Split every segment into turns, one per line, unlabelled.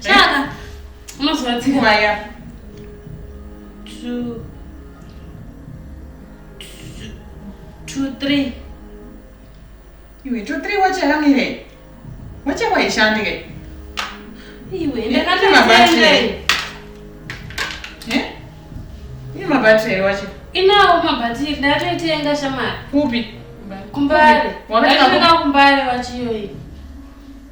Chaka. Unozwa tsika. Waya.
Two.
Two, three.
Iwe, two, three wacha hamire. Wacha kwa ishandike. Iwe,
ndakati mabatire. Eh?
Ini mabatire wacha. Inawo mabatire,
ndatoitenga shamari. Kupi?
Kumbare.
Wakatenga kumbare wachiyoyi.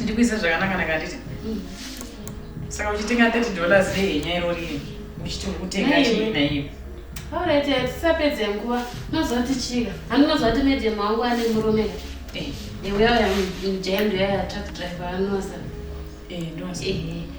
ndikuisa zvakanaka naka nditi saka uchitenga 30 dollars rehenya iro riri uchiti uri kutenga chii naiyo aurete eh,
tisapedze nguva nozoti chika handinozoti medium wangu ane murume eh. iweya mjaendo yaya truck driver anosa eh,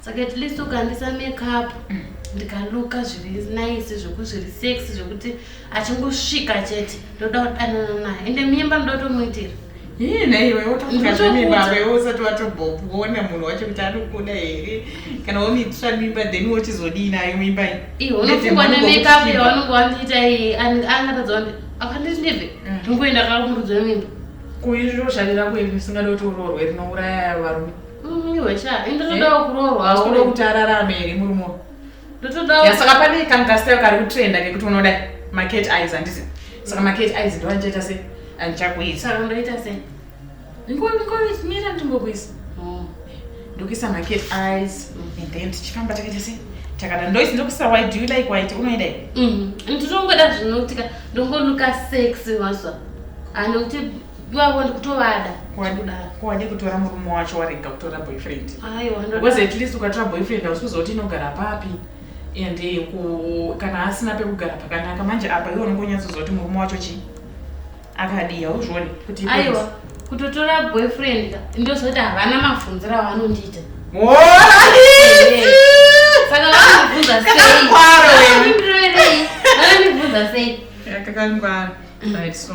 saka at least ukandisa makeup mm. ndikaluka zviri nice zvekuti zviri sex zvekuti achingosvika chete ndoda kudanana naye ende mimba ndoda kutomuitira hii naiwe
wotokuazvemibaba iwe usati watobhopu woona munhu wacho kuti anokuda here kana womiitira mimba then wochizodii nayo mimba iyi unofungwa
nemekeup yawanenge wandiita iyi angatadza kuti akanditi ndive mm. ndingoenda kakumurudza mimba kuizviro zvarirako
iri risingada kuti uroorwe rinouraya varume Mm, iwe cha
ini ndotodawo eh? kuroorwa unoda kuti ararame
here murume ndotodawo
yasaka pane
kangastyle kari kutrenda kekuti unoda maket eyes handisi saka maket eyes ndo andichaita se andichakuita saka ndoita se nkoita ndimbokuisa oh. ndokuisa maket eyes mm. and then tichifamba takaita se takada ndoisi ndokuisa why do you like white unoida mm. nditongoda
zvinokutika ndongoluka sex mazva anokuti iwavo ndikutovada kwade
kutora murume wacho warega kutora boyfriend because at
least ukatora boyfriend
hausuzoti inogara papi and eh, kana asina pekugara pakanaka manje apa iwe unenge unyatsozoti murume wacho chii akadii hauzvioni kuti aiwa
kutotora boyfriend ndozoti havana mabvunziro avanondiita saka vanondibvunza sei vanondibvunza sei kakangwara
right so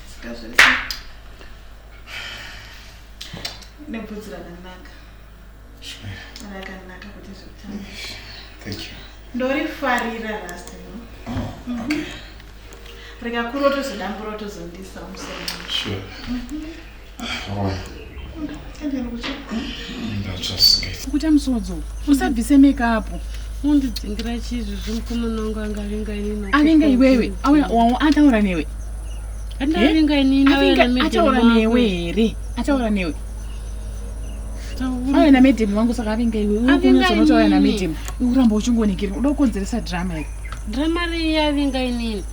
nebvudzi rakanaka rakanaka kuti zvekutanga
ndorifarira
rasta no oh, rikakurotozodambura otozondisa
musoro
sure. mm -hmm.
kuita musodzi usabvise mekapu mundidzingira
chizvi zvimukomana wangu angavinga inini avinga iwewe
ataura newe andavinga
eh? inini ataura newe
here ataura newe auya namedhemu wangu saka avinga iwe unozonoto auya namedhemu uramba uchingonikira uda kukonzeresa drama iri drama riyavinga
inini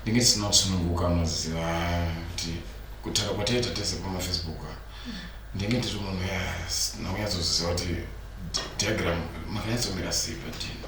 ndinge tisina kusununguka maziva kuti kutaura kwataita tese pamafacebook ndinge ndiri munhu nakunyatsoziva kuti diagram makanyatsomira sei padina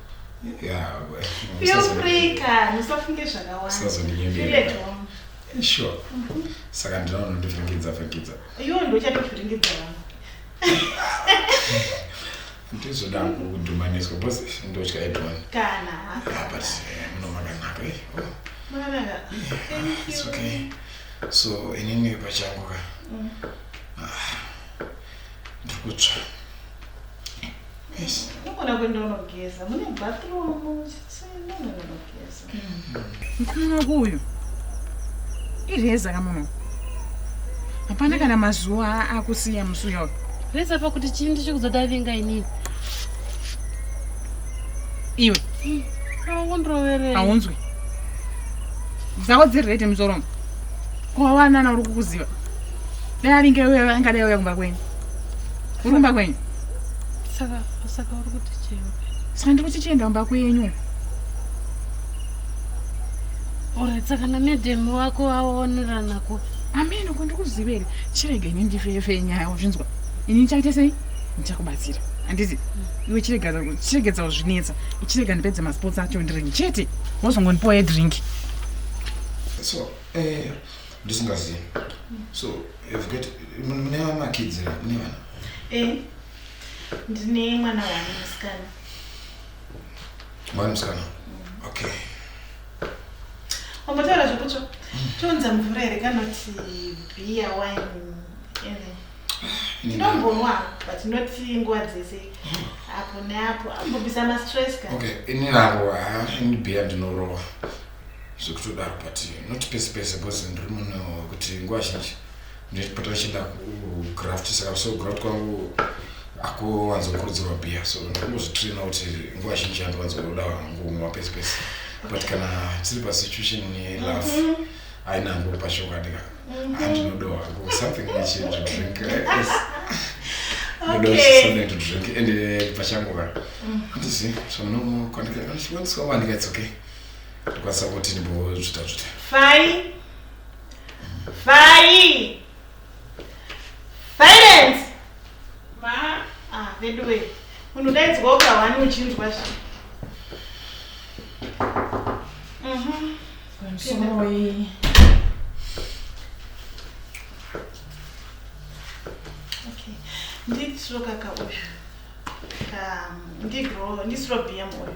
sure
mhm.
saka ndinaona ndivhiringidza vhiringidza iwo
ndochatovhiringidza vanhu
ndizoda kudhumaniswa bcause ndotya edwan kana ah, but
eh,
munomakanaka eh, oh.
eh, it's
okay so inini pachangu ka mm. ah, ndiri kutsva Unogona kuenda unogeza
mune bathroom chisina
unogona kugeza. Mkana wako uyu ireza kamuno. Hapana kana mazuva akusiya musuya uyu. Reza pakuti chii
ndichikuzodavinga inini.
Iwe. Mm.
Aunroverei. Aunzwi.
Dzako dziri rete muzoromo. Kuwawanana uri kukuziva. Dai aringe wewe angadai auya kumba kwenyu. Uri kumba kwenyu? Saka
saka uri kuti chii? Saka ndiri kuti chienda
kumba kwenyu.
Alright, saka namedhemu wako aonerana kupi? Ameno ko
ndikuzivere. Chirega ini ndifefe nyaya uzvinzwa. Ini ndichaita sei? Ndichakubatsira. Handizi iwe chirega chiregedza kuzvinetsa. Chirega ndipedze masports acho ndiringi chete. Wozongondipoe drink.
So, eh ndisingazivi so mune vamakidzi ra mune vana eh,
ndine mwana wani musikana
mwana musikana mm. okay
wambotaura zvekutsva mm. tonza mvura here kanoti bia wine ndinombonwa but not nguva dzese mm. apo neapo ambobisa mastress ka okay ini navo
ini bia ndinorowa zvekutodaro but not pese pese because ndiri munhu wekuti nguva zhinji ndipota ndichienda kugraft saka so graft kwangu akuwanzokurudzirwa bia so ndikungozvitraina kuti nguva zhinji handiwanzoda ngumwa pese pese but kana tiri pasituation yelove mm -hmm haina hangu pashokwadi ka handinodowa hangu something ichi to drink ndosomething to drink and pachangu ka handisi zvamnokwandikaiwandisawanika it's okay Ndikwanisa kuti ndimbozvita zvita.
Fai. Fai. Silence. Ma. Ah, veduwe. Munhu daidzwa ukahwani uchinzwa zvi.
Mhm. Sorry.
Okay. Nditiro kaka uyu. Um, ndigro, ndisiro BM uyu.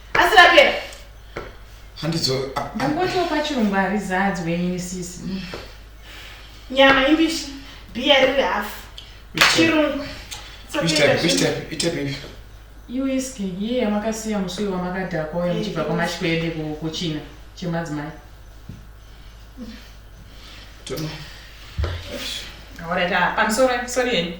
asi rapera
handidzo angotiwo
pachirungu harizadzwe ini sisi
nyama imbishi bhiya riri hafu chirungu
iwiski
iye yamakasiya musui wamakadhakwa uyo muchibva kwamashwede kuchina chemadzimai
Alright,
uh, I'm sorry, sorry.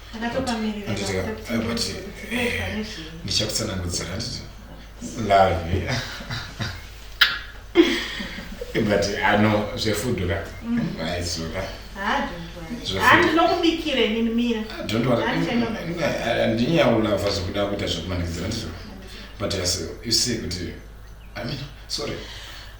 ndichakutsanangudzira handiti love but ano zvefuduka aizoka
andinokubikira inini
mira andinyaulava zvekuda kuita zvekumanikidzira ndizvo but yes you see kuti i mean sorry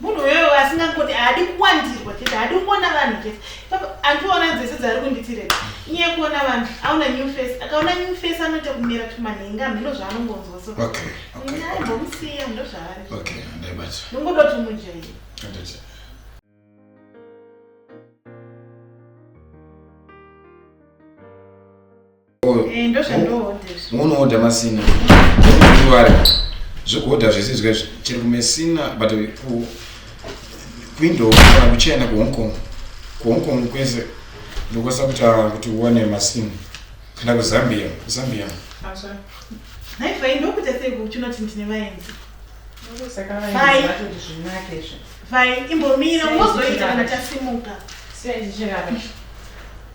munhu uyoyo asingangoti haadi kuwandirwa chete haadi kuona vanhu chete andiona dzese dzaari kunditireka iye kuona vanhu aona new face akaona new face anoita kumira tumanhenga mhino zvaanongonzwa so
aimbomusiya
ndo zvaari
ndongoda kuti mujairi
Eh, munoodha
masina zvekuodha zvese zvika chiri kumesina but kuindow kana kuchina kuhong kong kuhong kong kwese ndokwanisa kutaura kuti uwane masina kana kuzambia kuzambia
imbomira unozoita kana tasimuka